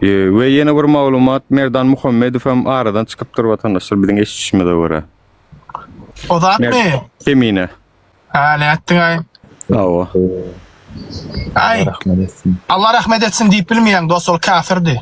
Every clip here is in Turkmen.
We ýene bir maglumat Merdan Muhammedow hem aradan çykypdyr watandaşlar biziň eşitişimize görä. O zatmy? Kemine. Ha nätdiňaý? Hawa. Aý. Rahmet etsin. Allah rahmet etsin diýip bilmeýäň dost ol kafirdi.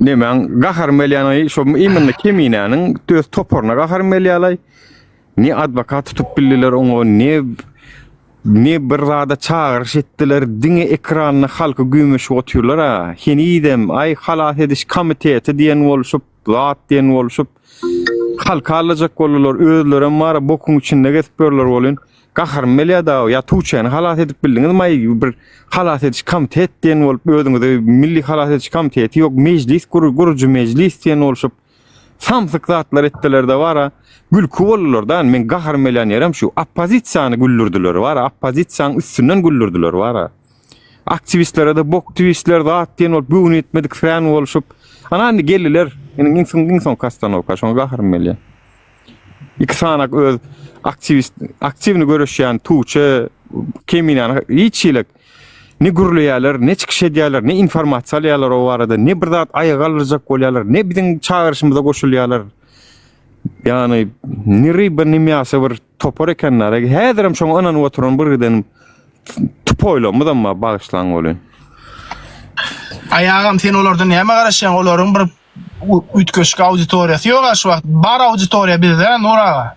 Nemäň gaharym gelýäni şo iýminde keminäniň öz toparyna gaharym gelýärlaý. Ne adwokat tutup bildiler oňa, ne ne bir zada çagyryş etdiler. Diňe ekranda halky güýmeşip otyrlar ha. Henizem aý halas ediş komiteti diýen bolşup, zat diýen bolşup halky aldajak boldular. Özlerem bar, bokuň içinde gezip ýörler welin. Gaharym belýada o ýa Tuçeni halas edip bildiňiz maý bir halas ediş komitet diýen bolup özüňize milli halas ediş komiteti ýok mejlis gur gurujy mejlis diýen bolşup samsyk zatlar etdilerde bara gülki boldularda men gaharym belýän ýerim şu oppozisiýany güldürdiler bara oppozisiýanyň üstünden güldürdiler bara aktiwistlere de bok tiwistler zat diýen bolup göwni ýetmedik frän bolşup ana indi geldiler indi iň soň iň soňky ostanowka şoňa gaharym belýär. Iki sanak öz aktiwist aktiwny göreşýän Tuçe Keminany hiç hili ne gürleýärler, ne çykyş edýärler, ne informasiýa alýarlar o barada, ne bir zat aýa galdyrjak bolýarlar, ne biziň çagyryşymyza goşulýarlar. Ýagny ne ryba, ne miýasa bir topar ekenler. Häzir hem şoňa ynanyp oturan bir giden tupoýlarymyz hem bar, bagyşlaň bolýa. Aýagam sen olardan näme garaşýaň, olaryň bir Üýtgeşik auditoriýasy ýok-a şu wagt. Bar auditoriýa bizde Nur aga.